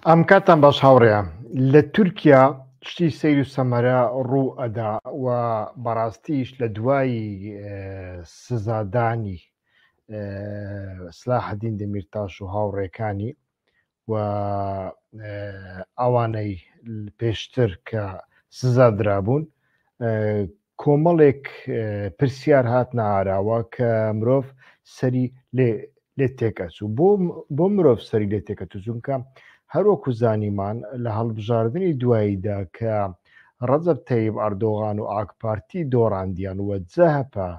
ئەم کاتان باش هاوڕێە لە تورکیا شتی سیر و سەمەرە ڕوو ئەدا و بەڕاستیش لە دوایی سزادانی سلاحدین دەمیرتاش و هاوڕێکانی و ئەوانەی پێشتر کە سزا درابوون کۆمەڵێک پرسیار هاتنە ئاراوە کە مرۆڤ سەری لێ لێ تێکەچوو بۆ بۆ مرۆڤ سەری لێ تێکەچوو چونکە هەروەکو زانیمان لە هەڵبژاردنی دواییدا کە ڕەجەب تەیب ئەردۆغان و ئاکپارتی دۆڕاندیان وە جەهەپە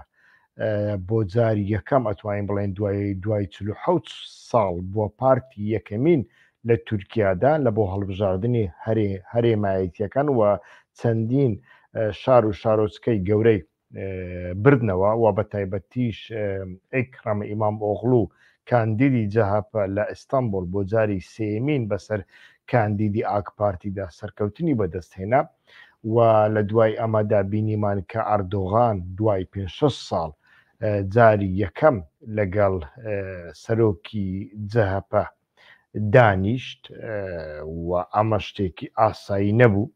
بۆ جاری یەکەم ئەتوانین بڵێن دوای دوای چ حوت ساڵ بووە پارتی یەکەمین لە تورکیادا لە بۆ هەڵبژاردنی هەرێمایەتییەکان و چەندین شار و شارۆچکەی گەورەی بردنەوە و بە تایبەتیش ئیکڕەم ئیمام ئۆغڵو کاندیدی جەهەپە لە ئیستانبول بۆ جاری سێمین بەسەر کاندیدی ئاک پارتیدا سەرکەوتنی بەدەستهێنا و لە دوای ئەمەدا بینیمان کە ئەردۆغان دوای 5 ساڵ جاری یەکەم لەگەڵ سەرۆکی جەهەپە دانیشت و ئەمە شتێکی ئاسایی نەبوو.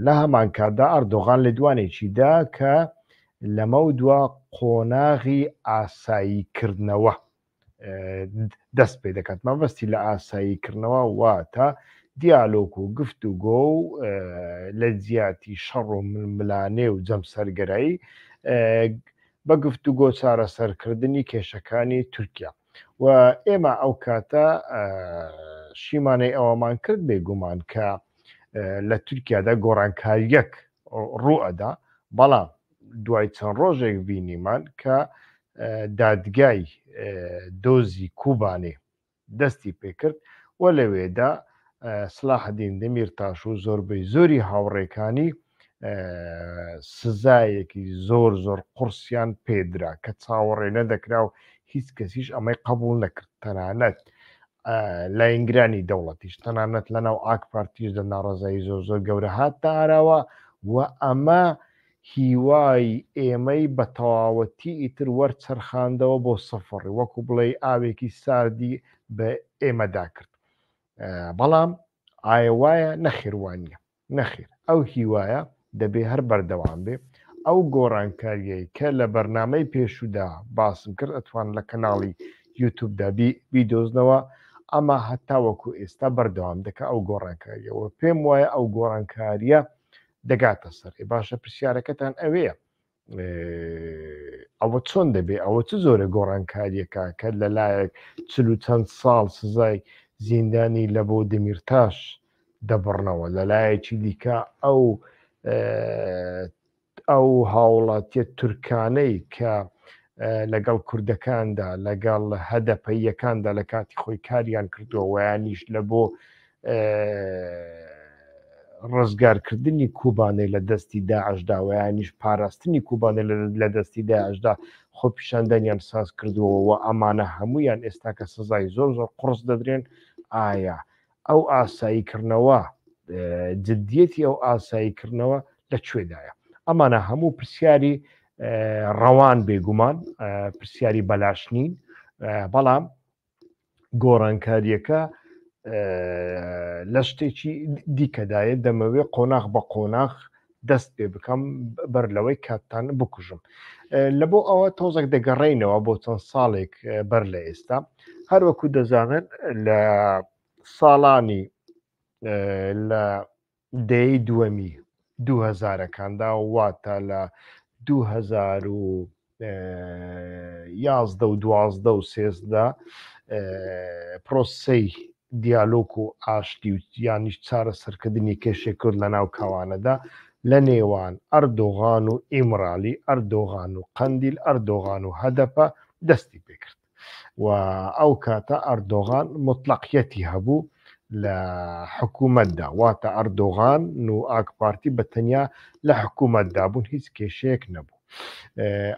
لە هەمانکاتدا ئەردۆغان لێدوانێکی دا کە لەمەودوا قۆناغی ئاساییکردنەوە دەست پێ دەکات مەبەستی لە ئاساییکردنەوە واتە دیالۆک و گفت و گۆ و لە جیاتی شەڕ و ململانێ و جەمسەرگەرایی بە گفت و گۆ چارەسەرکردنی کێشەکانی تورکیا و ئێمە ئەو کاتە شیمانەی ئەوەمان کرد بێگومان کە لە تورکیادا گۆڕانکاریەک ڕوئەدا بەڵام دوای چەند ڕۆژێک بینیمان کە دادگای دۆزی کوبانێ دەستی پێکرد و لەوێدا سلاحدین دەمیر تاش و زۆربەی زۆری هاوڕێکانی سزایەکی زۆر زۆر قڕسیان پێدرا کە چاوەڕێ نەدەکرا و هیچ کەسیش ئەمەی قبول نەکرد تەنانەت لاینگرانی دەوڵەتیش تەنانەت لە ناو ئاک پارتیش دە ناڕزایی زۆر زۆر گەورە هات تا ئاراوە و ئەمە هیوای ئێمەی بە تەواوەتی ئیتر وەرچەرخاندەوە بۆ سەفڕ وەکو بڵێ ئاوێکی ساردی بە ئێمەدا کرد بەڵام ئایا وایە نەخێوانە نەخیر ئەو هیوایە دەبێ هەر بەردەوام بێ، ئەو گۆڕانکارییەی کە لە بەرنامەی پێشوودا باسم کرد ئەتوان لە کەناڵی یوتوبدا بیدۆزنەوە، ئەمە هەتاوەکو ئێستا بەردەوام دەکا ئەو گۆڕانکارییە و پێم وایە ئەو گۆڕانکارییە دەگاتە سەر ئێ باشە پرسیارەکەتان ئەوەیە ئەوە چۆن دەبێ ئەوە چ زۆرە گۆڕانکاریەکە کە لەلایەک چ و چەند ساڵ سزای زیندانی لە بۆ دەمیرتاش دەبڕنەوە لەلایەکی دیکە ئەو ئەو هاوڵاتیە تورکانەی کە لەگەڵ کوردەکاندا لەگەڵ هەدەپەیەکاندا لە کاتی خۆی کاریان کردووە ویانیش لە بۆ ڕزگارکردنی کوبانێ لە دەستی داعشدا و یانیش پاراستنی کوبانێ لە دەستی داعشدا خۆپیشاندانیان ساز کردووەوە و ئەمانە هەمویان ئێستا کە سزای زۆر زۆر قڕس دەدرێن ئایا ئەو ئاساییکردنەوە جددیەتی ئەو ئاساییکردنەوە لە کوێدایە ئەمانە هەموو پرسیاری ڕەوان بێگومان پرسیاری بەلاش نین بەڵام گۆڕانکارییەکە لە شتێکی دیکەدایە دەمەوێ قۆناخ بە قۆناخ دەست پێ بکەم بەر لەوەی کاتتان بکوژم لە بۆ ئەوە تۆزەک دەگەڕینەوە بۆ چەند ساڵێک بەر لە ئێستا هەروەکو دەزانن لە ساڵانی لە دەیەی دووەمی دووهەزارەکاندا واتە لە دوو هەزار و یازدە و دوازدە و سێزدە پرۆسی دیالۆک و ئاشتی و یانیش چارە سەرکردنی کێشێ کرد لە ناو کاوانەدا لە نێوان ئەردۆغان و ئیمرالی ئەردۆغان و قندیل ئەردۆغان و هەدەپە دەستی پێکرد و ئەو کاتە ئەردۆغان موتڵەقیەتی هەبوو لە حکوومەتدا واتە ئەردۆغان و ئاکپارتی بە تەنیا لە حکوومەتدا بوون هیچ کێشەیەک نەبوو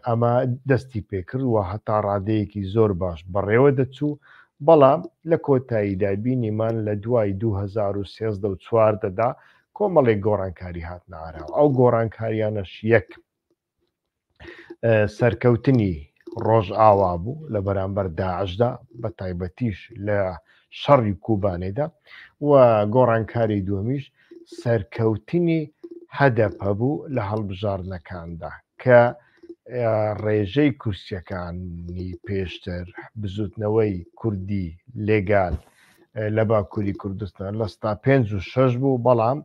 ئەمە دەستی پێکرد و هەتا ڕادەیەکی زۆر باش بەڕێوە دەچوو بەڵام لە کۆتاییدا بینیمان لە دوای 2013 چواردەدا کۆمەڵێک گۆڕانکاری هاتنارەوە ئەو گۆڕانکاریانەش یەک سەرکەوتنی ڕۆژ ئاوا بوو لە بەرامبەر داعشدا بە تایبەتیش لە شەڕی کوبانێدا و گۆڕانکاری دووەمیش سەرکەوتنی هەدەپە بوو لە هەڵبژاردنەکاندا کە ڕێژەی کورسیەکانی پێشتر بزوتنەوەی کوردی لێگال لە باکووری کوردستان لە ستا پێ و شش بوو بەڵام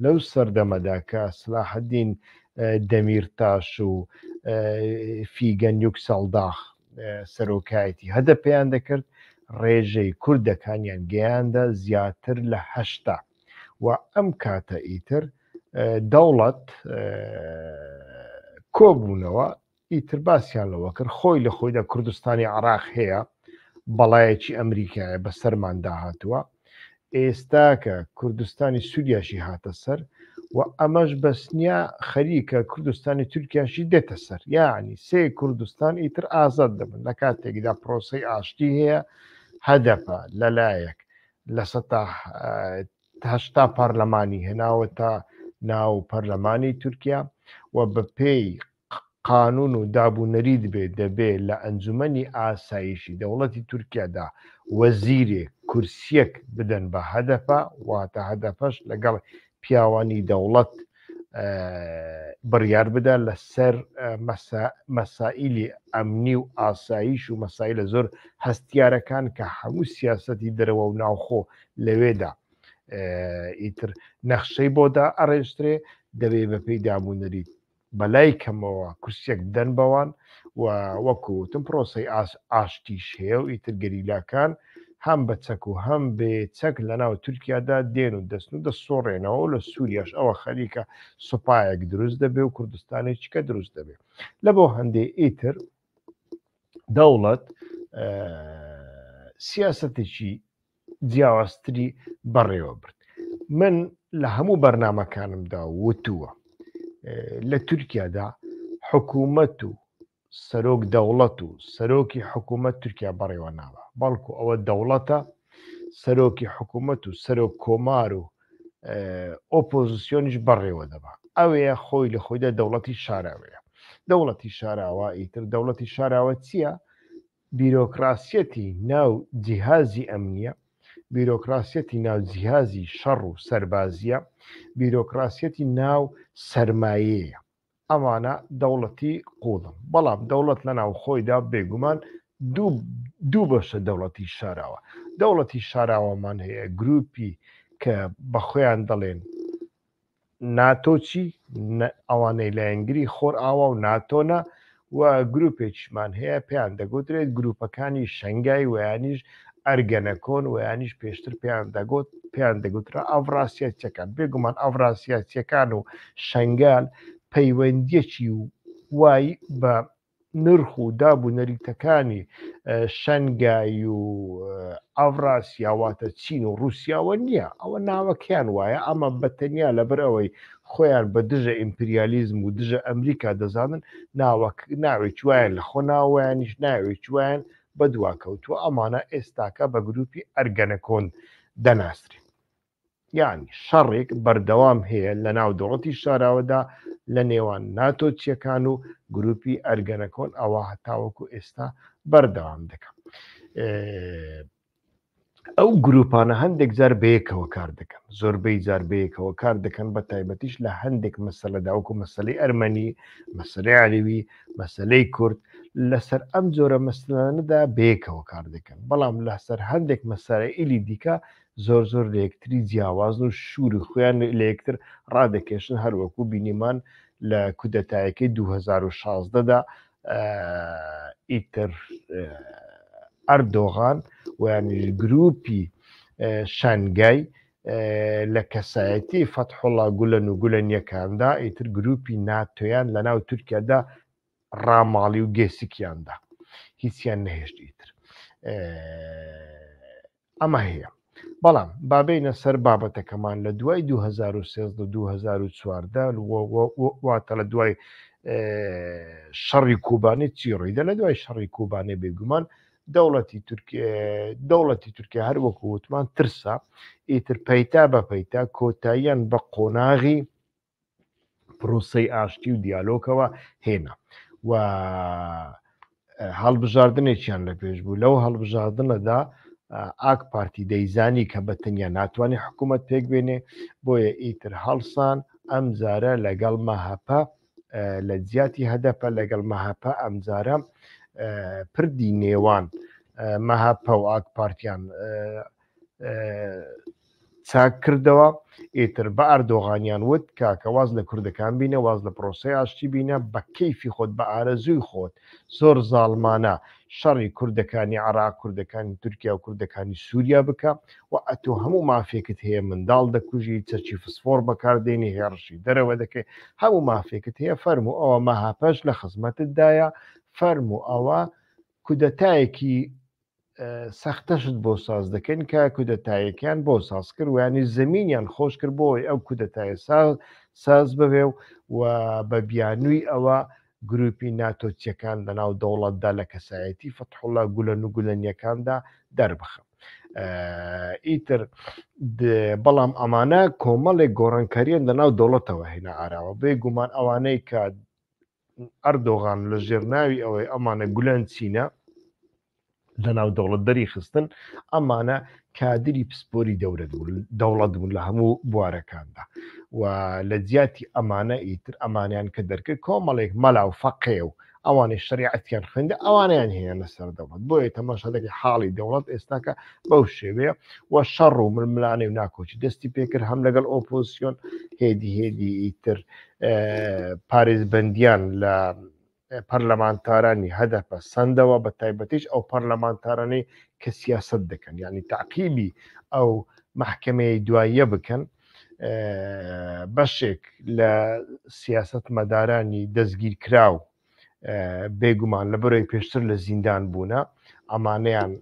لەو سەردەمەدا کە سلاحدین دەمیرتاش و فیگەن یوکسەڵداخ سەرۆکایەتی هەدە پێیان دەکرد ڕێژەی کوردەکانیان گەیاندە زیاتر لە هەشتا و ئەم کاتە ئیتر دەوڵەت کۆبوونەوە ئیتر باسیان لەوە کرد خۆی لە خۆیدا کوردستانی عراق هەیە بەڵایەکی ئەمریکایە بە سەرمان داهاتووە ئێستاکە کوردستانی سووریاشی هاتە سەر و ئەمەش بەسنیا خەریکە کوردستانی تورکیاشی دێتە سەر یعنی سێ کوردستان ئیتر ئازاد دەبن لە کاتێکدا پرۆسی ئاشتی هەیە هەدەپە لەلایەک لە هشتا پارلەمانی هێناوە تا ناو پەرلەمانی تورکیا و بە پێی قانون و داب و نەریت بێ دەبێ لە ئەنجومەنی ئاسایشی دەوڵەتی تورکیادا وەزیرێک، کورسیەک، بدەن بە هەدەپە، واتە هەدەپەش لەگەڵ پیاوانی دەوڵەت بڕیار بدا لە سەر مەسائیلی ئەمنی و ئاسایش و مەسایلە زۆر هەستیارەکان کە هەموو سیاسەتی دەرەوە و ناوخۆ لەوێدا ئیتر نەخشەی بۆدا ئەڕێژترێ دەبێ بە پێی دابوونەریت بەلای کەمەوە کورسیەک بدەن بەوان و وەکوتم پرۆسی ئاشتیش هەیە و ئیتر گەریلاکان هەم بە چەک و هەم بێ چەک لە ناو تورکیادا دێن و دەستن و دەسۆڕێنەوە و لە سووریاش ئەوە خەریکە سوپایەک دروست دەبێ و کوردستانێکیکە دروست دەبێ لە بۆ هەندێ ئیتر دەوڵەت سیاستێکی جیاوازتری بەڕێوە برد من لە هەموو بەرنمەکانمدا وتووە لە تورکیادا حکوومەت و سەرۆک دەوڵەت و سەرۆکی حکوومەت تورکیا بەڕێوە ناوە بەڵکو ئەوە دەوڵەتە سەرۆکی حکوومەت و سەرۆک کۆمار و ئۆپۆزیسیۆنیش بەڕێوە دەبا ئەوەیە خۆی لە خۆیدا دەوڵەتی شاراوەیە دەوڵەتی شاراوە ئیتر دەوڵەتی شاراوە چییە بیرۆکڕاسیەتی ناو جیهازی ئەمنیە، بیرۆکڕاسیەتی ناو جیهازی شەڕ و سەربازیە، بیرۆکڕاسیەتی ناو سەرمایەیە. ئەمانە دەوڵەتی قووڵن. بەڵام دەوڵەت لە ناوخۆیدا بێگومان دوو دوو بەشە دەوڵەتی شاراوە. دەوڵەتی شاراوەمان هەیە گرووپی کە بە خۆیان دەڵێن ناتۆ چی؟ ئەوانەی لایەنگری خۆرئاوا و ناتۆنە و گروپێکیشمان هەیە پێیان دەگوترێت گروپەکانی شەنگای ویانیش ئەرگەنەکۆن ویانیش پێشتر پێیان دەگوت پێیان دەگوترا ئەڤراسیەتەکان بێگومان ئەڤراسیەتەکان و شنگال پەیوەندیەکی وای بە نرخ و داب و نەریتەکانی شەنگایی و ئاڤراسیاواتە چین و رووسیاوە نییە ئەوە ناوەکەیان وایە ئەمە بەتەنیا لەبەر ئەوەی خۆیان بە دژە ئیمپریالیزم و دژە ئەمریکا دەزانن ناوەک ناوێک وایان لە خۆ ناوەیانیش ناوێک وایان بەدواکەوتووە ئەمانە ئێستاکە بە گروپی ئەرگەنەکۆن دەناسرێت یانی شەڕێک بەردەوام هەیە لە ناو دەوڵەتی شاراوەدا لە نێوان ناتۆ چیەکان و گروپی ئەرگەنەکۆن ئەوە هەتاوەکو ئێستا بەردەوام دەکەم ئەو گروپانە هەندێک جار بەیەکەوە کار دەکەن زۆربەی جار بەیەکەوە کار دەکەن بە تایبەتیش لە هەندێک مەسەلە داوکو مەسلەی ئەرمەنی مەسلەی عەلوی مەسلەی کورد لەسەر ئەم جۆرە مەسلانەدا بەیەکەوە کار دەکەن بەڵام لەسەر هەندێک مەسارە ئیلی دیکە زۆر زۆر لە یەکتری جیاوازن و شوری خۆیان لە یەکتر ڕادەکێشن هەروەکو بینیمان لە کودەتایەکەی 2016 دا ئیتر ئەردۆغان ویانش گروپی شنگای لە کەسایەتی فەتحوڵا گولەن و گولەنیەکاندا ئیتر گروپی ناتۆیان لە ناو تورکیادا ڕاماڵی و گێسکیاندا هیچیان نەهێشت ئیتر ئەمە هەیە بەڵام بابینە سەر بابەتەکەمان لە دوای 2013-2014واتە لە دوای شەڕی کوبانی چی ڕیدە لە دوای شەڕی کوبانێ بێگومان دەوڵەتی دەوڵەتی تورکیا هەر وەکو وتمان ترسا ئیتر پەیتا بە پەیتا کۆتاییان بە قۆناغی پرۆسەی ئاشتی و دیالۆکەوە هێنا و هەڵبژاردنێکیان لە پێش بوو لەو هەڵبژاردنەدا ئاک پارتی دەیزانی کە بە تەنیا ناتوانێت حکوومەت پێک بێنێ بۆیە ئیتر هەڵسان ئەم زارە لەگەڵ مەهەپە لە جیاتی هەدەپە لەگەڵ مەهەپە ئەمجارە پردی نێوان مەهەپە و ئاک پارتیان چاک کردەوە ئیتر بە ئەردۆغانیان وت کاکە واز لە کوردەکان بینە واز لە پرۆسەی ئاشتی بینە بە کەیفی خۆت بە ئارەزووی خۆت زۆر زاڵمانە شەڕی کوردەکانی عراق کوردەکانی تورکیا و کوردەکانی سووریا بکە و ئەتۆ هەموو مافێکت هەیە منداڵ دەکوژی چەچی فسفۆڕ بەکاردێنی هێڕشی دەرەوە دەکەی هەموو مافێکت هەیە فەرم و ئەوە مەهاپەش لە خزمەتتدایە فەرم و ئەوە کودەتایەکی سەختەشت بۆ ساز دەکەن کە کودەتایەکیان بۆ ساز کرد وانی زمینیان خۆش کرد بۆی ئەو کودەتایە ساز ساز بەوێ و و بە بیانووی ئەوە گروپی ناتۆچیەکان لە ناو دەوڵەتدا لە کەسایەتی فەتحڵە گولە و گولەنیەکاندا دەربخم ئیتر بەڵام ئەمانە کۆمەڵێک گۆڕانکاریان لە ناو دەوڵەتەوە هێنا ئاراوە بێ گومان ئەوانەی کە ئەردۆغان لە ژێر ناوی ئەوەی ئەمانە گولەن چینە لە ناو دەوڵەت دەری خستن ئەمانە کادری پسپۆری دەورەت بوون دەوڵەت بوون لە هەموو بوارەکاندا و لە جیاتی ئەمانە ئیتر ئەمانیان کە دەرکرد کۆمەڵێک مەلا و فەقێ و ئەوانەی شریعەتیان خوێندە ئەوانیان هێنە سەر دەوڵەت بۆیە تەماشادەکە حاڵی دەوڵەت ئێستاکە بەو شێوەیە و شەڕ و ململانێ و ناکۆچی دەستی پێکرد هەم لەگەڵ ئۆپۆزیسیۆن هێدی هێدی ئیتر پارێزبەندیان لە پەرلەمانتارانی هەدەپە سندەوە بە تایبەتیش ئەو پەرلەمانتارانەی کە سیاست دەکەن ینی تعقیبی ئەو محکمەیە دواییە بکەن بەشێک لە سیاست مەدارانی دەستگیر کراو بێگومان لە بەرەی پێشتر لە زیندان بوونە ئەمانەیان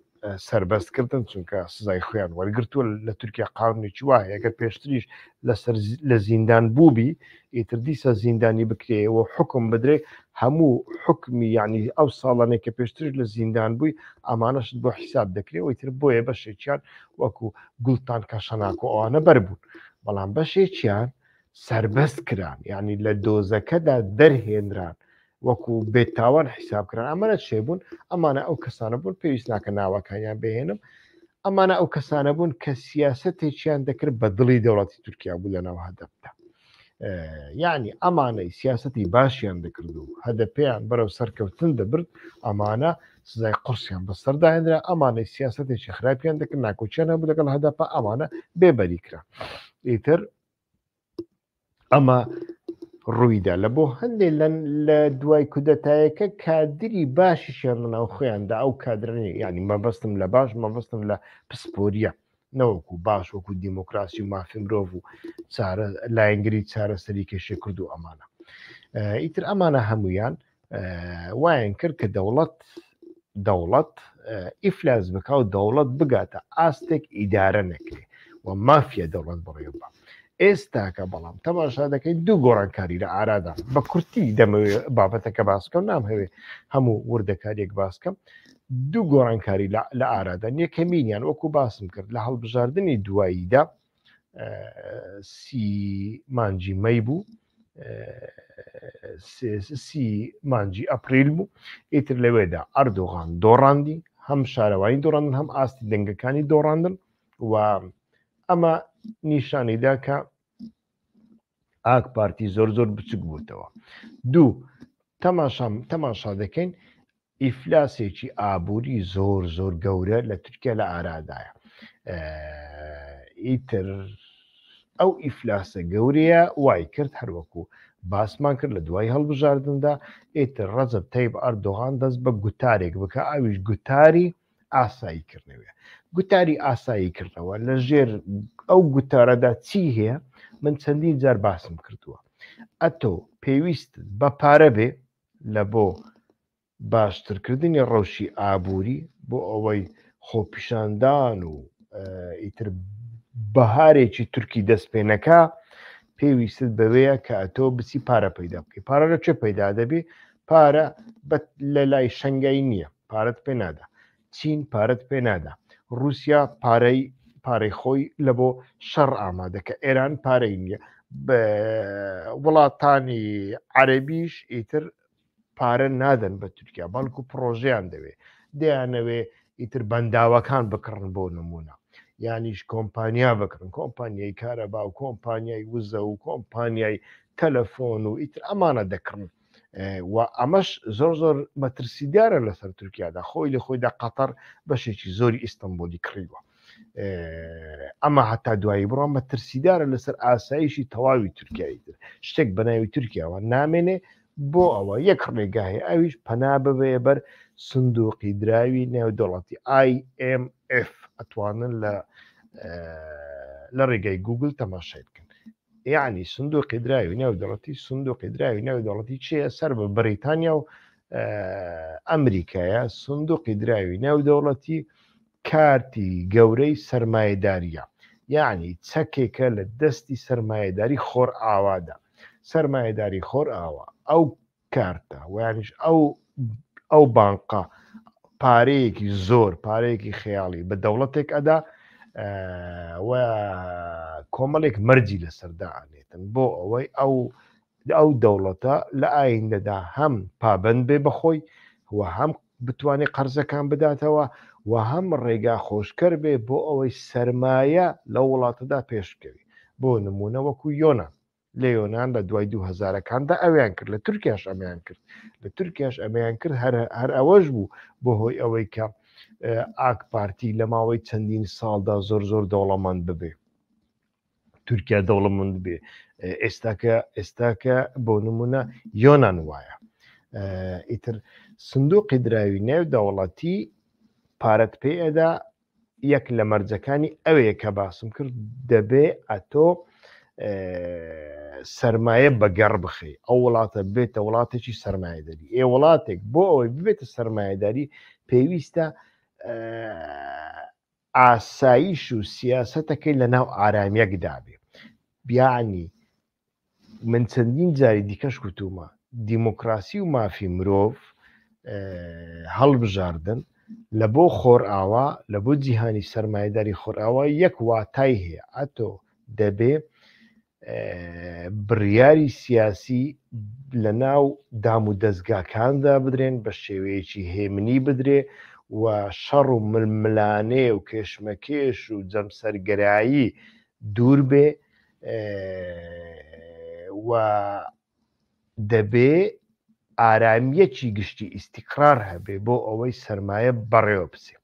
سربەست کردن چونکە سزای خۆیان وەرگتووە لە تورکیا قاونی چوواهەیەگە پێشتریش لەسەر لە زیندان بووبی ئیتر دیسە زیندانی بکرێەوە حکم بدرێ هەموو حکمی ینی ئەو ساڵانێک کە پێشترش لە زیندان بووی ئامانەشت بۆ حیساب دەکرێت ئیتر بۆیە بەشێکیان وەکو گوڵتان کە شەناکۆ ئەوانە بەربوون بەڵام بەشێکیان سەربەست کران یعنی لە دۆزەکەدا دەرهێنران وەکو بێتاوان حیساب کران ئەمەە شێ بوون ئەمانە ئەو کەسانە بوون پێویست ناکە ناوەکانیان بهێنم ئەمانە ئەو کەسانە بوون کە سیاستێکیان دەکرد بە دڵی دەوڵەتی تورکیا بوو لە ناو هەدەبدا یعنی ئەمانەی سیاستی باشیان دەکرد و هەدە پێیان بەرەو سەرکەوتن دەبرد ئەمانە سزای قرسیان بەسەرداهێنرا ئەمانەی سیاستێکی خراپیان دەکرد ناکۆچیان هەبوو لەگەڵ هەدەپە ئەمانە بێبەریکرا ئیتر ئەمە ڕوویدا لە بۆ هەندێک لە دوای کودەتایەکە کادری باشیشیان لەناو خۆیاندا ئەو کادرنی ینی مەبەستم لە باش مەبەستم لە پسپۆریە نەوەکو باش وەکو دیموکراسی و مافی مرۆڤ و لایەنگری چارەسەری کێشێ کرد و ئەمانە ئیتر ئەمانە هەمویان وایان کرد کە دەوڵەت دەوڵەت ئیفلاس بکە و دەوڵەت بگاتە ئاستێک ئیدارە نەکرێ و مافیە دەوڵەت بڕێ بە ئێستاکە بەڵام تەماشا دەکەین دوو گۆڕانکاری لە ئارادا بە کورتی دەمەوێت بابەتەکە باسکە و نام هەوێ هەموو وردەکاریەک باسکەم دوو گۆڕانکاری لە ئارادا یەکەمینیان وەکو باسم کرد لە هەڵبژاردننی دواییدا سی مانجی مەی بوو سی مانجی ئەپریل بوو ئیتر لەوێدا ئەردۆغان دۆڕاندی هەم شارەوانی دۆڕاندن هەم ئاستی دەنگەکانی دۆڕاندن و ئەمە نیشانیدا کە ئاک پارتی زۆر زۆر بچک بووتەوە دوو تەماشام تەماشا دەکەین ئیفلاسێکی ئابووری زۆر زۆر گەورە لە تورکیا لە ئارادایە ئیتر ئەو ئیفلاسە گەورەیە وای کرد هەروەکو باسمان کرد لە دوای هەڵبژاردندا ئیتر ڕەزب تەیب ئەردۆغان دەست بە گوتارێک بکە ئاویش گوتاری ئاسایی کردنەوە گوتاری ئاسایی کردنەوە لە ژێر ئەو گوتارەدا چی هەیە من چەندین جار باسم کردووە ئەتۆ پێویست بە پارە بێ لە بۆ باشترکردنی ڕەوشی ئابووری بۆ ئەوەی خۆپیشاندان و ئیتر بەهارێکی تورکی دەست پێ نەکە پێویست بەوەیە کە ئەتۆ بچی پارە پەیدا بکەی پارە لە چێ پەیدا دەبێ پارە لە لای شنگای نییە پارەت پێ نادا چین پارەت پێ نادا رووسیا پارەی پارەی خۆی لە بۆ شەڕ ئامادەکە ئێران پارەی نییە وڵاتانی عەربیش ئیتر پارە نادەن بە تورکیا بەڵکو پرۆژیان دەوێ دەیانەوێ ئیتر بەنداوەکان بکڕن بۆ نمونە یانیش کۆمپانیا بکڕن کۆمپانیای کارەبا و کۆمپانیای وزە و کۆمپانیای تەلەفۆن و ئیتر ئەمانە دەکڕن و ئەمەش زۆر زۆر مەترسیدارە لەسەر تورکیادا خۆی لە خۆیدا قەتەر بەشێکی زۆری ئیستنبولی کڕیوە ئەمە هەتا دوایی بڕۆ مەترسیدارە لەسەر ئاسایشی تەواوی تورکیایی تر شتێک بەناوی تورکیاوە نامێنێ بۆ ئەوە یەک ڕێگاهی ئەویش پەنا ببێ بەر سندوقی دراوی نێودوڵەتی IMF ئەتوانن لە لە ڕێگای گوگل تەماشای بکەن یعنی سندوقی دراوی ناو دەڵەتی سندوقی دراوی ناو دەڵەتی چیە سەر بە بریتانیا و ئەمریکایە سندوقی دراوی ناو دەوڵەتی کارتی گەورەی سرمایهداریە یعنی چەکێکە لە دەستی سرمایهداری خۆر ئاوادا سرمایهداری خۆر ئاوا ئەو کارتە ویانیش ئەو ئەو بانقە پارەیەکی زۆر پارەیەکی خەیاڵی بە دەوڵەتێک ئەدا و کۆمەڵێک مەرجی لەسەردا ئەنێتن بۆ ئەوەی ئەو ئەو دەوڵەتە لە ئایندەدا هەم پابند بێ بەخۆی و هەم بتوانێت قەرزەکان بداتەوە و هەم ڕێگا خۆشکەر بێ بۆ ئەوەی سرمایە لە وڵاتەدا پێشکەوی بۆ نمونە وەکو یۆناان لە یۆنان لە دوای دوو هەزارەکاندا ئەویان کرد لە تورکیاش ئەمیان کرد لە تورکیاش ئەمیان کرد هەر ئەوەش بوو بۆ هۆی ئەوەی کە ئاک پارتی لە ماوەی چەندین ساڵدا زۆر زۆر دەوڵەمەند ببێ تورکیا دەوڵەمەند بێ ئێستاکە ئێستاکە بۆ نمونە یۆناان وایە ئیتر سندوقی دراوی نێو دەوڵەتی پارەت پێ ئەدا یەک لە مەرجەکانی ئەوەیە کە باسم کرد دەبێ ئەتۆ سرمایە بە گەڕ بخی ئەو وڵاتە بێتە وڵاتێکی سرمایهداری ئێ وڵاتێک بۆ ئەوەی ببێتە سرمایهداری پێویستە ئاساییش و سیاستەکەی لە ناو ئارامیەکدابێ بیانی من چەندین جاری دیکەش کوتومە دیموکراسی و مافی مرۆڤ هەڵبژاردن لە بۆ خۆرئاوا لە بۆ جیهانی سەرمایداری خۆرئاوا یەک واتای هەیە ئەتۆ دەبێ بڕیاری سیاسی لە ناو دام و دەستگاکاندا بدرێن بە شێوەیەکی هێمنی بدرێ و شەڕ و ململانێ و کێشمەکێش و جەمسەرگەرایی دوور بێ و دەبێ ئارامیەکی گشتی ئیسیقرار هەبێ بۆ ئەوەی سرمایە بەڕێوە بچێ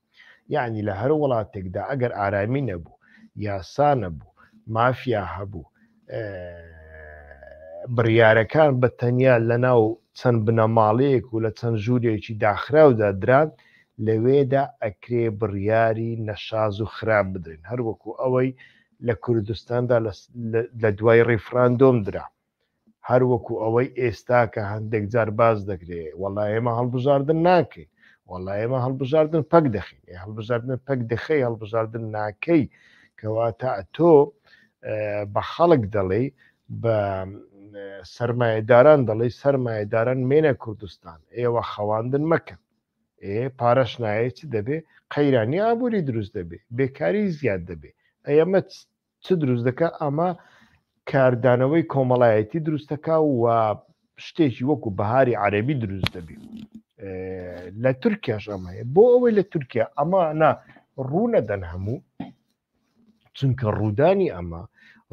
یعنی لە هەر وڵاتێکدا ئەگەر ئارامی نەبوو یاسا نەبوو مافیا هەبوو بڕیارەکان بە تەنیا لە ناو چەند بنەماڵەیەک و لە چەند ژوورێکی داخراودا دران لەوێدا ئەکرێ بڕیاری نەشاز و خراپ بدرێن هەروەکو ئەوەی لە کوردستاندا لە دوای ڕیفراندۆم درا هەروەکو ئەوەی ئێستا کە هەندێک جار باز دەکرێ وەڵا ئێمە هەڵبژاردن ناکەین وەڵا ئێمە هەڵبژاردن پەک دەخین هەڵبژاردن پەک دەخەی هەڵبژاردن ناکەی کەواتە تۆ بە خەڵک دەڵێ بە سرمایهداران دەڵێ سرمایهداران مێنە کوردستان ئێوە خەواندن مەکەن ئێ پارەش نایەی چ دەبێ قەیرانی ئابووری دروست دەبێ بێکاری زیاد دەبێ ئەمە چ دروست دەکە ئەمە کاردانەوەی کۆمەڵایەتی دروستەکە و شتێکی وەکو بەهاری عەربی دروست دەبی لە تورکیاش ئەمەیە بۆ ئەوەی لە تورکیا ئەمانە ڕوونەدەن هەموو چونکە ڕوودانی ئەمە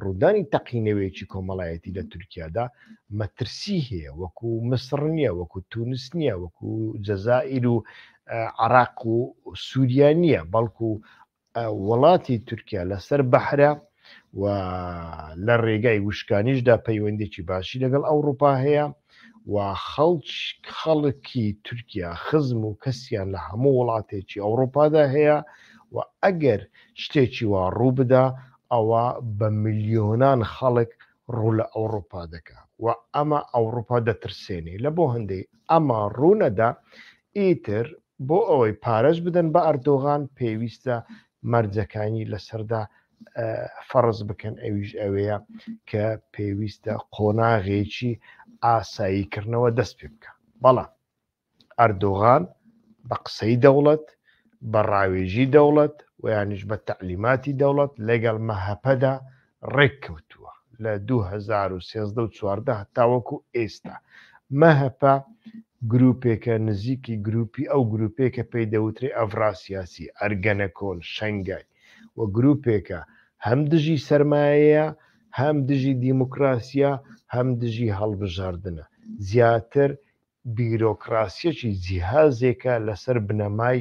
ڕوودانی تەقینەوەیەکی کۆمەڵایەتی لە تورکیادا مەترسی هەیە وەکو مسڕ نییە وەکو تونس نییە وەکو جەزائیر و عراق و سووریا نییە بەڵکو وڵاتی تورکیا لەسەر بەحرە و لە ڕێگای وشکانیشدا پەیوەندێکی باشی لەگەڵ ئەوروپا هەیە و خەڵکی تورکیا خزم و کەسیان لە هەموو وڵاتێکی ئەوڕوپادا هەیە و ئەگەر شتێکی وا ڕووبدا ئەوا بە ملیۆنان خەڵک ڕوو لە ئەوڕوپا دەکا و ئەمە ئەوڕوپا دەترسێنێ لە بۆ هەندەی ئەمە ڕوونەدا ئیتر بۆ ئەوەی پارەش بدەن بە ئەردۆغان پێویستە مەرجەکانی لەسەردا فەڕز بکەن ئەویش ئەوەیە کە پێویستە قۆناغێکی ئاساییکردنەوە دەست پێ بکە بەڵام ئەردۆغان بە قسەی دەوڵەت بە ڕاوێژی دەوڵەت ویانش بە تعلیماتی دەوڵەت لەگەڵ مەهەپەدا ڕێک کەوتووە لە 2013 چواردە تاوەکو ئێستا مەهەپە گروپێکە نزیکی گروپی ئەو گروپێکە پێی دەوترێ ئەڤراسیاسی ئەرگەنەکۆن شەنگای و گروپێکە هەم دژی سەرمایەیە هەم دژی دیموکراسیە هەم دژی هەڵبژاردنە زیاتر بیرۆکراسیەکی جیهازێکە لەسەر بنەمای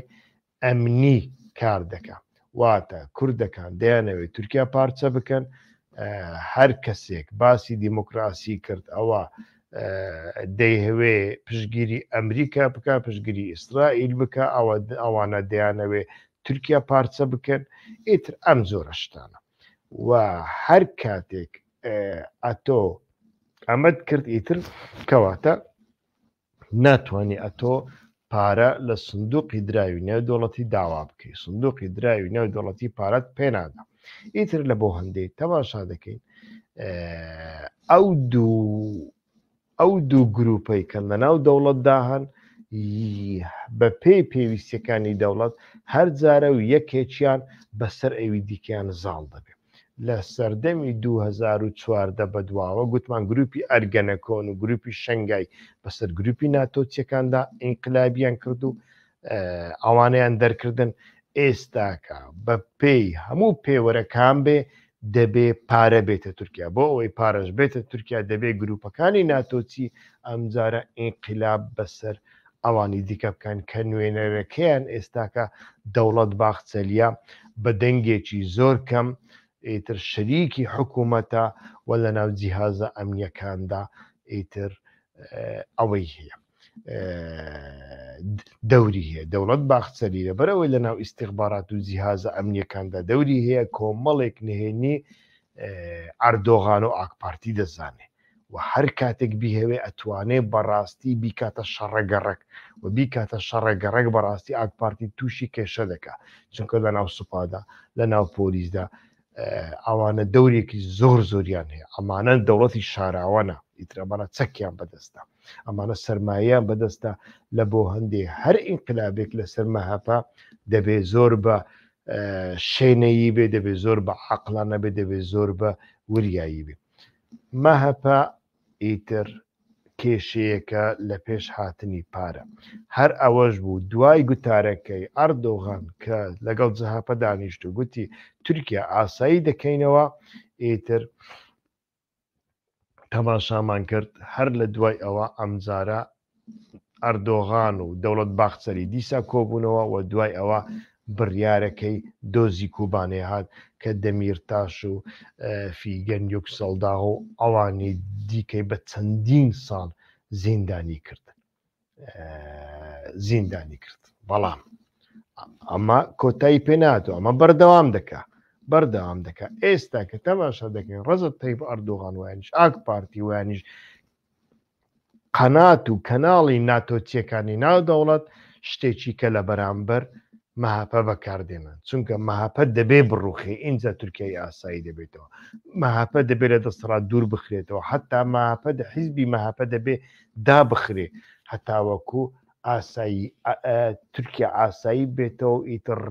ئەمنی کار دەکە واتە کوردەکان دەیانەوێت تورکیا پارچە بکەن هەر کەسێک باسی دیموکراسی کرد ئەوە دەیهوێ پشگیری ئەمریکا بکە پشگیری ئیسرائیل بکە ئەوە ئەوانە دەیانەوێ تورکیا پارچە بکەن ئیتر ئەم زۆرە شتانە و هەر کاتێک ئەتۆ ئەمەد کرد ئیتر کەواتە ناتوانانی ئەتۆ پارە لە سندوقی دراوی نێو دەوڵەتی داوا بکەی سندوقی دراوی نێو دەوڵەتی پارەت پێنادا ئیتر لە بۆ هەندێک تەماشا دەکەین ئەو دوو ئەو دوو گرووپەی کە لەناو دەوڵەتدا هەن بەپێی پێویستیەکانی دەوڵەت هەرجارە و یەکێکیان بەسەر ئەوی دیکەیان زاڵ دەبێت لە سەردەمی 2014 بەدواوە گوتمان گروپی ئەرگەنەکۆن و گروپی شنگای بەسەر گروپی ناتۆچیەکاندا ئینقلابیان کرد و ئەوانیان دەرکردن ئێستاکە بە پێی هەموو پێوەرەکان بێ دەبێ پارە بێتە تورکیا بۆ ئەوەی پارەش بێتە تورکیا دەبێ گروپەکانی ناتۆچی ئەمجارە ئینقلاب بەسەر ئەوانی دیکە بکەن کە نوێنەرەکەیان ئێستاکە دەوڵەت باخچەلیە بە دەنگێکی زۆر کەم ئیتر شەریکی حکوومەتە و لە ناو جیهازە ئەمنیەکاندا ئیتر ئەوەی هەیە دەوری هەیە دەوڵەت باخچەری لەبەرەوەی لە ناو ئیسیخبارات و جیهازە ئەمنیەکاندا دەوری هەیە کۆمەڵێک نهێنی ئەردۆغان و ئاکپارتی دەزانێ و هەر کاتێک بیهوێ ئەتوانێ بەڕاستی بیکاتە شەڕەگەڕک و بیکاتە شەڕەگەڕک بەڕاستی ئاکپارتی تووشی کێشە دەکە چونکە لە ناو سوپادا لە ناو پۆلیسدا ئەوانە دەورێکی زۆر زۆریان هەیە ئەمانە دەوڵەتی شاراوانە ئیترەمانە چەکیان بەدەستە ئەمانە سەرمایەیان بەدەستە لە بۆ هەندێ هەر ئینقلابێک لە سەرمە هەپە دەبێ زۆر بە شێنەیی بێ دەبێ زۆر بە عقلانە بێ دەبێ زۆر بە وریایی بێ مەهەپە ئیتر کێشەیەکە لە پێش هاتنی پارە. هەر ئەوەش بوو دوای گوتارەکەی ئەردۆغان کە لەگەڵ جەهەپە دانیشت و گوتی تورکیا ئاسایی دەکەینەوە، ئیتر تەماشامان کرد هەر لە دوای ئەوە ئەمجارە ئەردۆغان و دەوڵەت باخچەلی دیسا کۆبوونەوە و دوای ئەوە بڕیارەکەی دۆزی کوبانێ هات کە دەمیرتاش و فیگەن یوکسەڵداغ و ئەوانی دیکەی بە چەندین ساڵ زیندانی کرد زیندانی کرد بەڵام ئەمە کۆتایی پێناتۆ ئەمە بەردەوام دەکە بەردەوام دەکە ئێستا کە تەماشا دەکەین ڕزت تەیب ئەردۆغان وانیش ئاک پارتی وانیش قەنات و کەناڵی ناتۆچیەکانی ناو دەوڵەت شتێکی کە لە بەرامبەر مەهەپە بەکاردێنن چونکە مەهەپە دەبێ بڕوخێ ئینجا تورکیای ئاسایی دەبێتەوە مەهەپە دەبێت لە دەسەڵات دوور بخرێتەوە حتا مەهەپە حیزبی مەهەپە دەبێ دابخرێ هەتاوەکو ئاسایی تورکیا ئاسایی بێتەوە ئیتر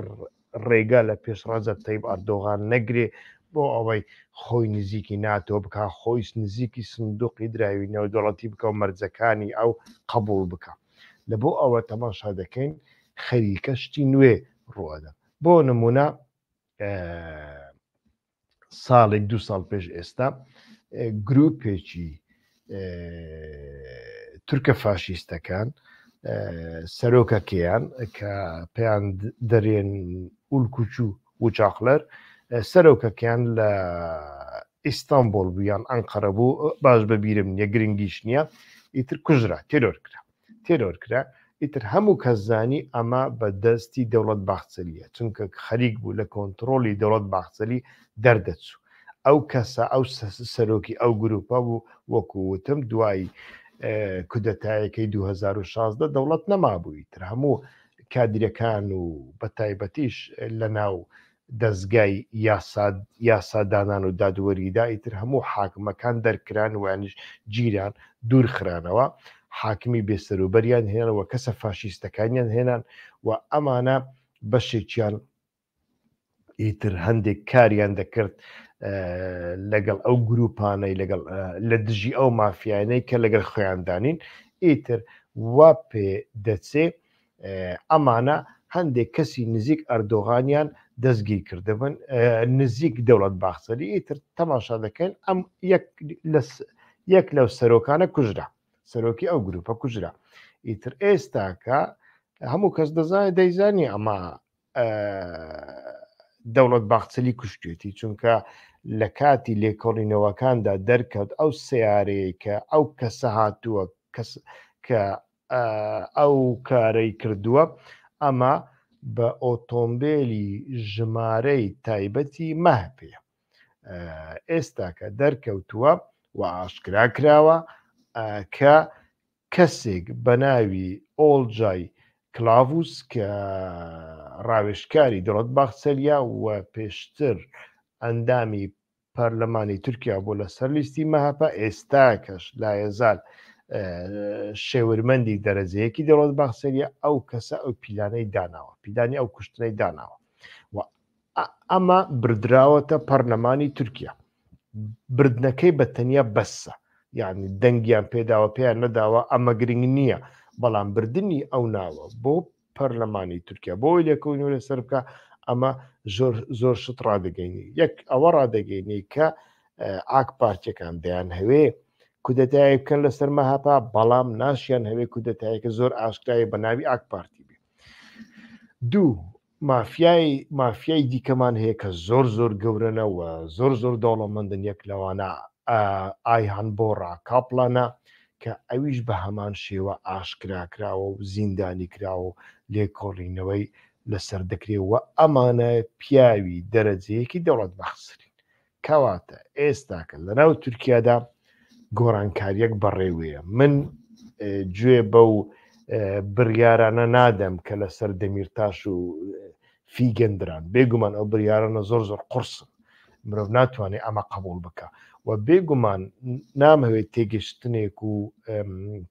ڕێگا لە پێش ڕەجەب تەیب ئەردۆغان نەگرێ بۆ ئەوەی خۆی نزیکی ناتۆ بکا خۆیش نزیکی سندوقی دراوی نێودەوڵەتی بکە و مەرجەکانی ئەو قەبوڵ بکا لە بۆ ئەوە تەماشا دەکەین خەریکە شتی نوێ ڕووئەدەن بۆ نمونە ساڵێک دوو ساڵ پێش ئێستا گروپێکی تورکە فاشیستەکان سەرۆکەکەیان کە پێیان دەرێن ئولکوچو و چاقلەر سەرۆکەکەیان لە ئیستانبول بوویان ئەنقەرە بوو باش بەبیرم نیە گرنگیش نییە ئیتر کوژرا تێرۆر کرا تێرۆر کرا ئیتر هەموو کەس زانی ئەمە بە دەستی دەوڵەت باخچەلیە چونکە خەریک بوو لە کۆنتڕۆلی دەوڵەت باخچەلی دەردەچوو ئەو کەسە ئەو سەرۆکی ئەو گروپە بوو وەکو وتم دوای کودەتایەکەی 2016 دەوڵەت نەمابووی تر هەموو کادیرەکان و بە تایبەتیش لە ناو دەزگای یاسا یاسا دانان و دادوەریدا ئیتر هەموو حاکمەکان دەرکران وانیش گیران دوور خرانەوە حاکمی بێسەروبەریان هێنەوە کەسە فاشیستەکانیان هێنان و ئەمانە بەشێکیان ئیتر هەندێک کاریان دەکرد لەگەڵ ئەو گروپانەی لەگەڵ لە دژی ئەو مافیانەی کە لەگەڵ خۆیاندانین ئیتر وا پێ دەچێ ئەمانە هەندێک کەسی نزیک ئەردۆغانیان دەستگیر کردبن نزیک دەوڵەت باخسەری ئیتر تەماشا دەکەن ئەم یەک لەو سەرۆکانە کوژرا سەرۆکی ئەو گروپە کوژرا ئیتر ئێستاکە هەموو کەس دەزانێت دەیزانی ئەمە دەوڵەت باخچلی کوشتێتی چونکە لە کاتی لێکۆڵینەوەکاندا دەرکەوت ئەو سیارەیە کە ئەو کەسە هاتووە کەس کە ئەو کارەی کردووە ئەمە بە ئۆتۆمبێلی ژمارەی تایبەتی مەهپێ ئێستاکە دەرکەوتووە و ئاشکرا کراوە کە کەسێک بە ناوی ئۆلجای کلااووس کە ڕاوێشکاری دڵت باخچەلیا و پێشتر ئەندامی پەرلەمانی تورکیا بوو لەسەر لیستی مەهەپە ئێستاکەش لایەزال شێورمەندی دەرەجەیەکی دەوڵەت باخسەریە ئەو کەسە ئەو پیلانەی داناوە پیلانی ئەو کوشتنەی داناوە و ئەمە بردراوەتە پەرلەمانی تورکیا بردنەکەی بە تەنیا بەسە یعنی دەنگیان پێداوە پێیان نەداوە ئەمە گرنگ نییە بەڵام بردننی ئەو ناوە بۆ پەرلەمانی تورکیا بۆی لێکەونی لەسەر بکە ئەمە زۆر زۆر شت ڕدەگەینی یەک ئەوە ڕدەگەینی کە ئاک پارتەکان دەیان هەوێ کودەتایە بکەن لەسەر مەهاپا بەڵام ناشیان هەوێ کودەتایەکە زۆر ئاشکایی بە ناوی ئاک پارتی بێ دوو مافیای مافیای دیکەمان هەیە کە زۆر زۆر گەورەنەوە زۆر زۆر دەوڵەمەندن یەک لەوانە ئایهان بۆڕا کاپلانە کە ئەویش بە هەمان شێوە ئاشکراکراوە و زیندانیکراوە و لێکۆڵینەوەی لەسەر دەکرێ و ئەمانە پیاوی دەرەجەیەکی دەوڵەت بەخسرین. کەواتە ئێستاکە لەناو تورکیادا گۆڕانکاریەک بەڕێوەیە من گوێ بەو بڕیارانە نادەم کە لەسەر دەمیرتاش و فیگەن دران بێگومان ئەو بریارانە زۆر زۆر قرسن مرۆڤ ناتوانێت ئەمە قبول بکە و بێگومان نامەوێت تێگەشتنێک و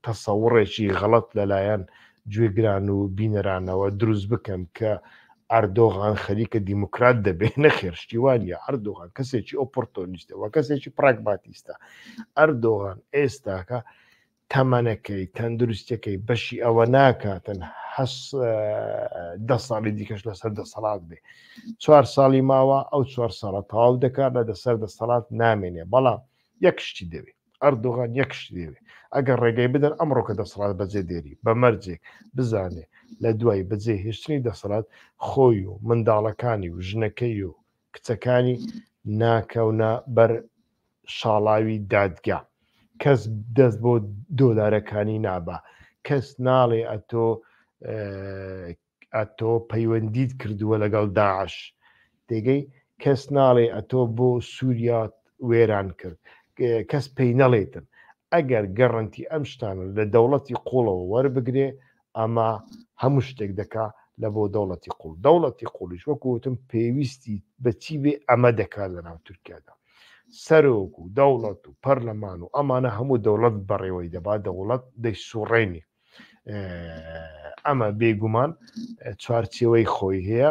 تەسەوڕێکی غەڵت لەلایەن گوێگران و بینەرانەوە دروست بکەم کە ئەردۆغان خەریکە دیموکرات دەبێت نەخێرشتیوان یا ئەردۆغان کەسێکی ئۆپۆرتۆنیستەوە کەسێکی پراگماتیستە ئەردۆغان ئێستاکە تەمەنەکەی تەندروستیەکەی بەشی ئەوە ناکاتن حەس دە ساڵی دیکەش لەسەر دەسەڵات بێ چوار ساڵی ماوە ئەو چوار ساڵە تەواو دەکات لە دەسەر دەسەڵات نامێنێ بەڵام یەک شتی دەوێت ئەردوغان یەک شتی دەوێت ئەگەر ڕێگەی بدەن ئەمڕۆکە دەسەڵات بەجێ دێری بە مەرجێک بزانێ لە دوای بەجێ هێشتنی دەسەڵات خۆی و منداڵەکانی و ژنەکەی و کچەکانی ناکەونە بەر شاڵاوی دادگا کەس دەست بۆ دۆلارەکانی نابا کەس ناڵێ ئەتۆ ئەتۆ پەیوەندیت کردووە لەگەڵ داعش تێگەی کەس ناڵێ ئەتۆ بۆ سووریات وێران کرد کەس پێی نەڵێتن ئەگەر گەڕنتی ئەم شتانە لە دەوڵەتی قوڵەوە وەربگرێ ئەمە هەموو شتێک دەکا لە بۆ دەوڵەتی قوڵ دەوڵەتی قوڵیش وەکو وتم پێویستی بەچی بێ ئەمە دەکات لە ناو تورکیادا سەرۆک و دەوڵەت و پەرلەمان و ئەمانە هەموو دەوڵەت بەڕێوەی دەبا دەوڵەت دەی سوڕێنی ئەمە بێگومان چوارچێوەی خۆی هەیە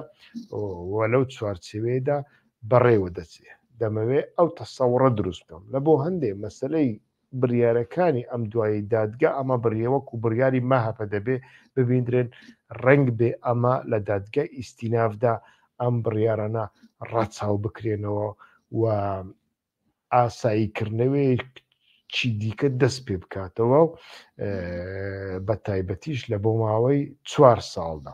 و لەو چوارچێوەیەدا بەڕێوە دەچێت دەمەوێ ئەو تەسەوڕە دروست بکەم لە بۆ هەندێ مەسلەی بڕیارەکانی ئەم دوایەی دادگا ئەمە بڕیە وەکو بڕیاری مەهەپە دەبێ ببیندرێن، ڕەنگ بێ ئەمە لە دادگای ئیستینافدا ئەم بڕیارانە ڕەچاو بکرێنەوە و ئاسایی کردنەوەیەک چی دیکە دەست پێ بکاتەوە بە تایبەتیش لە بۆ ماوەی چوار ساڵدا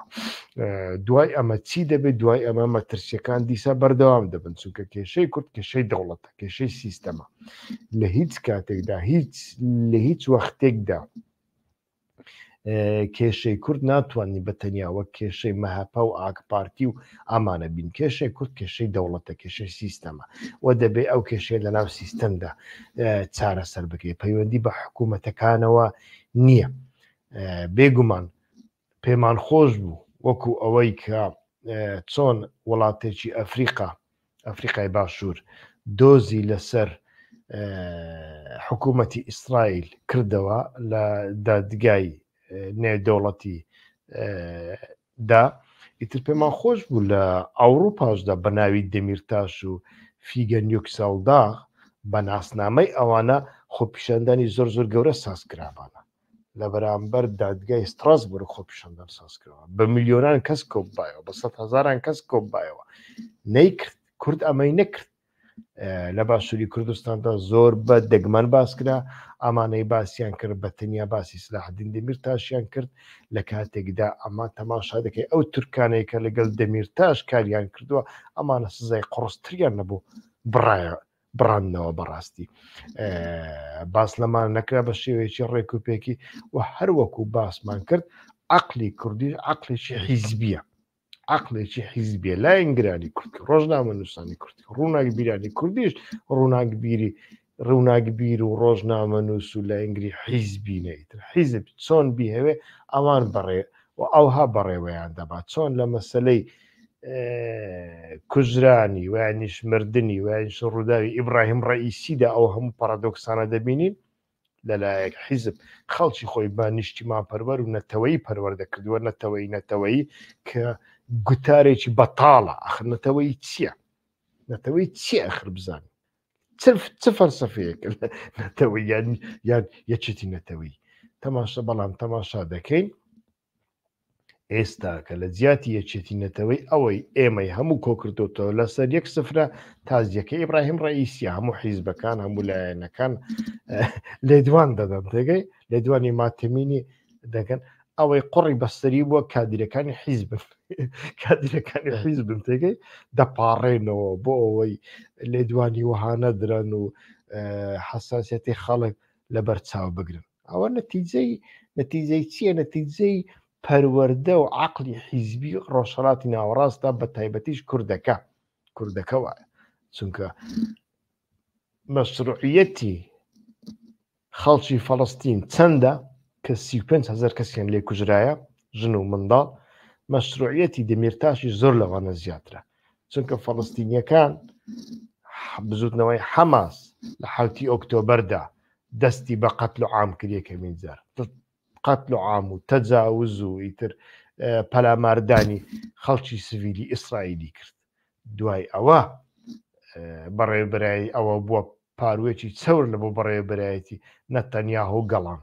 دوای ئەمە چی دەبێت دوای ئەمە مەترسیەکان دیسا بەردەوام دەبن چونکە کێشەی کورد کێشەی دەوڵەتە کێشەی سیستەمە لە هیچ کاتێکدا هیچ لە هیچ وەختێکدا کێشەی کورد ناتوانانی بە تەنیاوە کێشەی مەهپە و ئاکپارتی و ئامانە بین کێشەی کورد کێشەی دەوڵەتە کێشەی سیستەمە و دەبێ ئەو کێشەیە لە ناو سیستەمدا چارەسەر بکەیت پەیوەندی بە حکوومەتەکانەوە نییە بێگومان پێمان خۆش بوو وەکو ئەوەی کە چۆن وڵاتێکی ئەفریقا ئەفریقای باشوور دۆزی لەسەر حکوومەتی ئیسرائیل کردەوە لە دادگای نێودەوڵەتی دا ئیتر پێمان خۆش بوو لە ئەوروپاشدا بە ناوی دەمیرتاش و فیگە نیوکسەڵدا بە ناسنامەی ئەوانە خۆپیشاندانی زۆر زۆر گەورە ساز کرابانە لە بەرامبەر دادگای ستراسبورگ خۆپیشاندان سازکراوە بە ملیۆنان کەس کۆببایەوە بە سەد هزاران کەس کۆببایەوە نەیکرد کورد ئەمەی نەکرد لە باشووری کوردستاندا زۆر بە دەگمەن باسکرا ئامانەی باسییان کرد بە تەنیا باسی سلاحدین دەمیر تاشیان کرد لە کاتێکدا ئەمە تەماشا دەکەی ئەو تورکانەیە کە لەگەڵ دەمیر تاش کاریان کردووە ئەمانە سزای قڕستریان نەبوو بڕایە بڕاندنەوە بەڕاستی باس لەمان نەکرا بە شێوەیەکی ڕێک و پێکی و هەروەکو باسمان کرد عقلی کوردی عقلێکی حیزبیە عقلێکی حیزبیە لاینگرانی کوردی ڕۆژنامە نووسانی کوردی ڕووناک بیرانی کوردیش ڕووناک بیری ڕووناک بیر و ڕۆژنامە نووس و لە ئینگری حیزبی نەیتر حیزب چۆن بیهەوێ ئەوان بڕێ و ئەوها بەڕێوەیان دەبات چۆن لە مەسلەی کوژرانی وانیش مردنی وانیش ڕووداوی ئیبراهیم ڕئیسیدا ئەو هەموو پارادۆکسانە دەبینین لەلایەک حیزب خەڵکی خۆی بە نیشتیمان پەروەەر و نەتەوەی پەروەەردە کردووە نەتەوەی نەتەوەی کە گوتارێکی بەتاڵە ئەخر نەتەوەی چییە نەتەوەی چی ئەخر بزان چ فەرسەفەیەک نەتەوەی یان یان یەکێتی نەتەوەی تەماشە بەڵام تەماشا دەکەین ئێستا کە لە جیاتی یەکێتی نەتەوەی ئەوەی ئێمەی هەموو کۆکردوتەوە لەسەر یەک سفرە تازیەکە ئیبراهیم ڕئیسیە هەموو حیزبەکان هەموو لایەنەکان لێدوان دەدەن تێگەی لێدوانی ماتمینی دەگەن ئەوەی قڕی بەستری بووە کادیرەکانی حیزبن کادیرەکانی حیزبن تێگەی دەپاڕێنەوە بۆ ئەوەی لێدوانی وەهانە درەن و حساسەتی خەڵک لە بەرچاو بگرن ئەوە نەتیجەی نەتیجەی چییە نەتیجەی پەروەەردە و عقلی حیزبی ڕۆژهڵاتی ناوەڕاستە بە تایبەتیش کوردەکە کوردەکە وایە چونکە مەسرڕعەتی خەڵکی فەڵستین چەندە کە سی هزار کەسیان لێ کوژرایە ژن و منداڵ مەسرڕعەتی دەمیرتاشی زۆر لەوانە زیاترە چونکە فەڵستینیەکان بزوتنەوەی حەماس لە حوتی ئۆکتۆبەردا دەستی بە قەتل و عام کریە کەمین جار قەتل و عام و تەجاوز و ئیتر پەلاماردانی خەڵکی سڤیلی ئیسرائیلی کرد دوای ئەوە بەڕێبرایی ئەوە بووە پاروێکی چەور لە بۆ بەڕێبرایەتی نەتەنیاهۆ گەڵام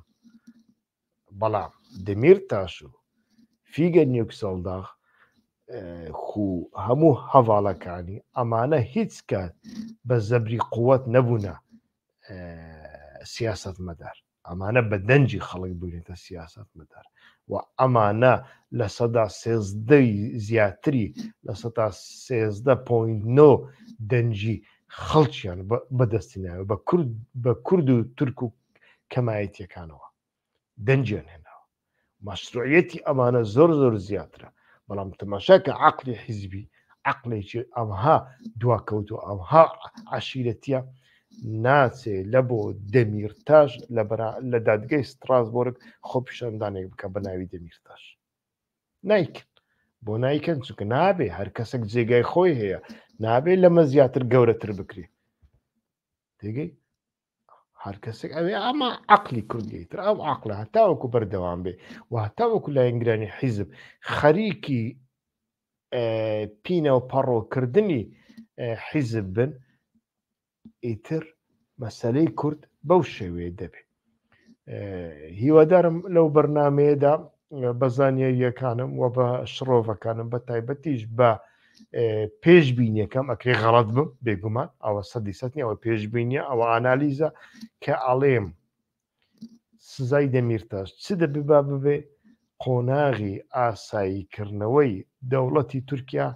بەڵام دمیرتاش و فیگە نیوکسەڵداغ خو هەموو هەواڵەکانی ئەمانە هیچ کات بە زەبری قووەت نەبوونە سیاست مەدار ئەمانە بە دەنجی خەڵک بوونێتە سیاست مەدار و ئەمانە لە سەدا سێزدەی زیاتری لە سەدا سێزدە پوین نۆ دەنجی خەڵکیان بەدەستینایە بە کورد بە کورد و تورک و کەمایەتیەکانەوە دەنجیان هێناوە مەشروعەتی ئەمانە زۆر زۆر زیاترە بەڵام تەماشا کە عقلی حیزبی عقلێکی ئەمها دواکەوت و ئەمها عشیرەتە ناچێ لە بۆ دەمیرتاش لە لە دادگەی ستراسبۆرگ خۆ پیشاندانێک بکە بە ناوی دەمیرتاش نایکن بۆ نایکەن چونکە نابێ هەر کەسێک جێگای خۆی هەیە نابێ لەمە زیاتر گەورەتر بکری تێگەی هەر کەسێک ئەوێ ئەمە عقلی کوردی تر ئەو عقلە هەتاوەکو بەردەوام بێ و هەتاوەکو لایەنگرانی حیزب خەریکی پینە و پەڕۆکردنی حیزب بن ئیتر مەسلەی کورد بەو شێوێ دەبێت هیوادارم لەو بەرنمەیەدا بە زانیارییەکانم و بە شڕۆڤەکانم بە تایبەتیش بە پێش بینیەکەم ئەکرێ غەڵت بم بێگومان ئەوە سەدی سەتنی ئەوە پێش بینیە ئەوە ئانالیزە کە ئاڵێم سزای دەمیرتاش چ دەبیبا ببێ قۆناغی ئاساییکردنەوەی دەوڵەتی تورکیا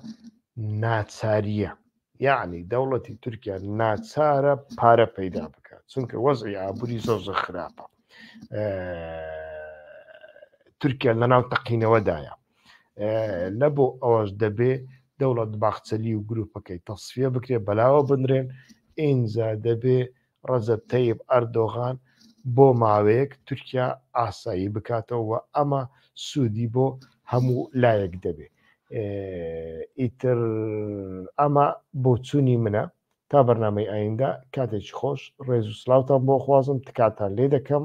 ناچاریە یەعنی دەوڵەتی تورکیا ناچارە پارە پەیدا بکات چونکە وەزعی ئابووری زۆر زۆر خراپە تورکیا لەناو تەقینەوەدایە لە بۆ ئەوەش دەبێ دەوڵەت باخچەلی و گروپەکەی تەسفە بکرێت بەلاوە بنرێن ئینجا دەبێ ڕەجەب تەیب ئەردۆغان بۆ ماوەیەک تورکیا ئاسایی بکاتەوە و ئەمە سوودی بۆ هەموو لایەک دەبێ ئیتر ئەمە بۆچوونی منە تا بەرنمەی ئایندە کاتێکی خۆش ڕێز و سلااوان بۆ خوازم تکاتان لێ دەکەم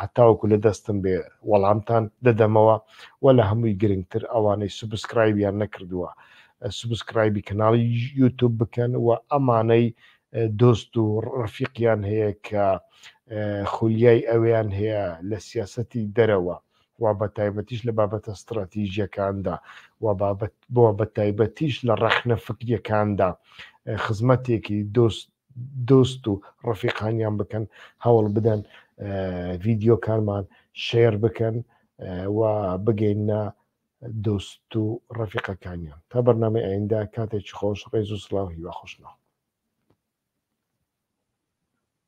هەتاوەکو لە دەستم بێ وەڵامتان دەدەمەوە و لە هەمووی گرنگتر ئەوانەی سوبسکرایبیان نەکردووە سوبسکرایبی کەناڵی یوتوب بکەن و ئەمانەی دۆست و ڕفیقیان هەیە کە خولیای ئەویان هەیە لە سیاسەتی دەرەوە و بە تایبەتیش لە بابەتە ستراتیژیەکاندا و بابەت بۆ بە تایبەتیش لە ڕەخنە فکریەکاندا خزمەتێکی دۆست دۆست و ڕەفیقانیان بکەن هەوڵ بدەن ڤیددیوکانمان شێر بکەن و بگەینە دۆست و ڕەفیقەکانیان تا بەرنامی ئایندا کاتێکی خۆش ڕێز و سلااو هیوا خۆشنەوە